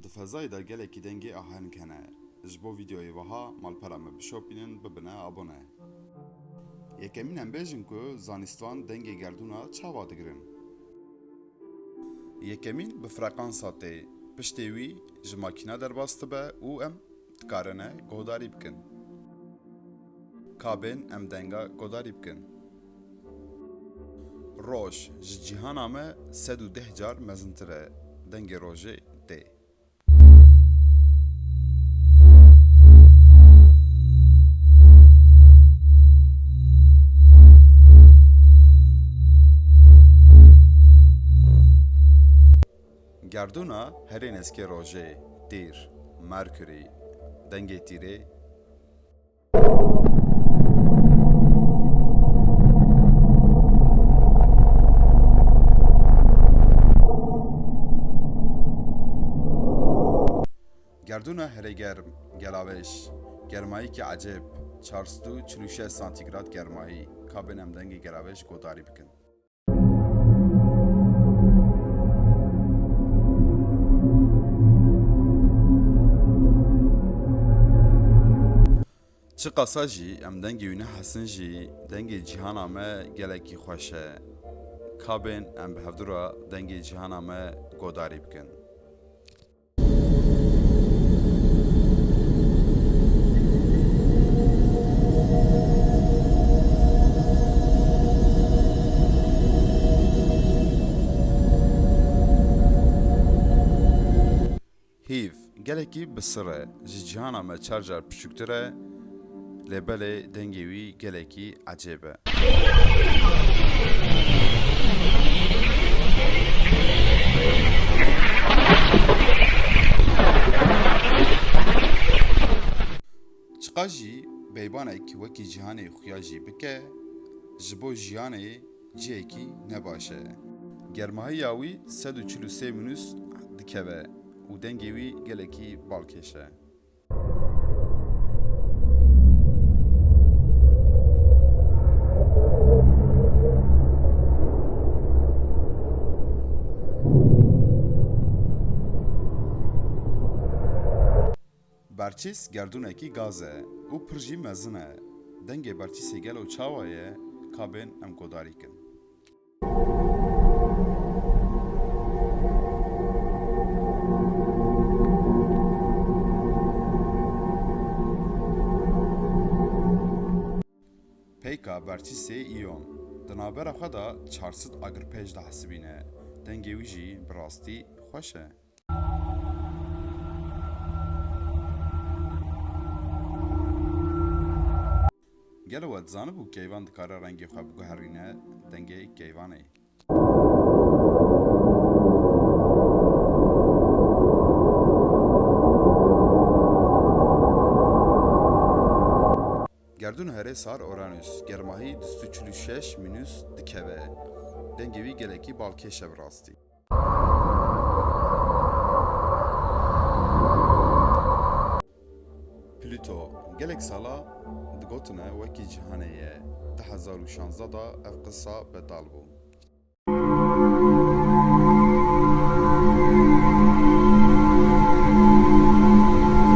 Di fezayê de gelekî dengê aheng hene. Ji bo vîdeoyê wiha malpera me bişopînin, bibine abone. Yekemîn em bêjin ku zanîstvan dengê gerdûna çawa digirin. Yekemîn bi freqansa tê, piştê wî ji makîna derbas dibe û em. Dikarine godarî bikin. Ka bên em denga godarî bikin. Roj ji cîhana me sed û deh car mezintir e, dengê rojê tê. Gerdûna herê neskê rojê, Tîr, Mercury, dengê tîrê. Gerdûna herê germ, Gelaweş, germayîkê ecêb, çar sed û çil û şeş santîgrad germayî, kabên em dengê gelaweş godarî bikin. Çi qasa jî em dengê wî nehesin jî dengê cîhana me gelekî xweş e. Kabên em bi hevdûra dengê cîhana me godarî bikin. Hîv, gelekî bi sir e, ji cîhana me çar car piçûktir e, Lê belê dengê wî gelekî ecêb e. Çiqas jî beybanek wekî cîhanê xuya jî bike, ji bo jiyanê cihekî ne baş e. Germahiya wî sed û çil û sê minûs dikeve û dengê wî gelekî balkêş e. Berçîs gerdûnekî gaz e û pir jî mezin e. Dengê berçîsê gelo çawa ye, kabên em guhdarî kin. Peyka berçî sê îyon. Di navbera xwe de çar sed agirpej dihesibîne. Dengê wî jî bi rastî xweş e. Gelo we dizanibû keyvan dikare rengê xwe biguherîne dengê keyvanê? Gerdûn herê sar Uranus germahî du sed û çil û şeş mînus dikeve. Dengê wî gelekî balkêş e bi rastî. Pluto gelek sala digotine wekî cîhanê ye, di hezar û şanzdeh de ev qisa betal bû.